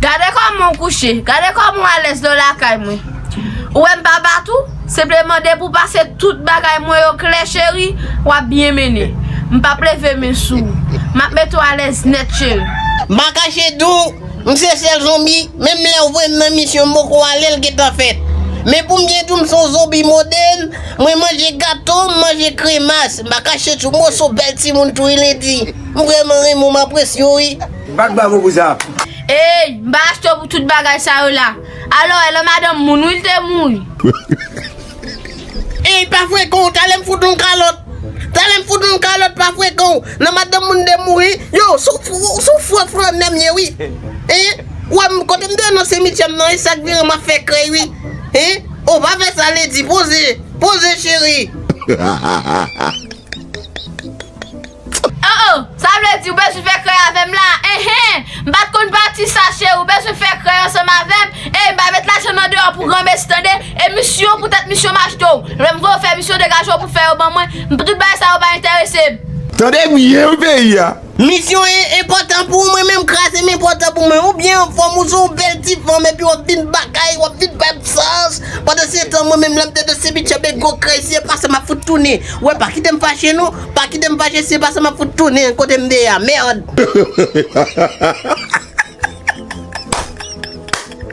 Gade kòman w kouche, gade kòman w alèz lè w lakay mwen. Ou wè m pa bat ou, senpleman depi w pase tout bagay mwen yo klè cheri, w ap byen mennen. M p ap leve men sou ou. M ap mete w alèz nèt cheri. M pa kache di w, m se sèl zonbi, menm lè w voye m nan misyon m poko ale l gentan fèt. Men pou m byen di w m se yon zonbi modèn, mwen manje gato, m manje kremas. M pa kache di w m wè w se yon bèl timoun tou wi Lady. M vrèman renmen w, m apresye w wi. Bat bravo pou sa. Eyy m pa achte w pou tout bagay sa yo la. Alo e lan madanm moun wi l te mouri. Eyy pa frekan w tale m fout w yon kalòt tale m fout w yon kalòt pa frekan w lan madanm moun te mouri yow sou fre flannè m ye wi hein ou wè m kote m te ye nan simityè m nan e sak vire m ap fè krèy wi hein oh pa fè sa lady poze poze cheri. Oh oh, sa vle di ou bezwen fè krèy avè m la? Enhen, m pa t konn pati sa cheri, ou bezwen fè krèy ansanm avè m? Ey, m pa met lajan nan deyò pou granmesi tande, e misyon pou tèt misyon machto, lè m voye w fè misyon degaje w pou fè yo ban mwen, m tout bagay sa yo pa enterese m. Tande byen wi peyi a. Misyon en, enpòtan pou ou mwen menm kras em enpòtan pou mwen, ou byen anfòm, ou se yon bèl ti fanm epi w ap vin bagay, w ap vin bay m fòs, pandansetan mwen menm lè m te de Sebiche Bego krèy si e pa sa m ap fout tounen, wè pa kite m fache non. Pa kitem fache si se pa sa map fout tounen kotem te ye a merd.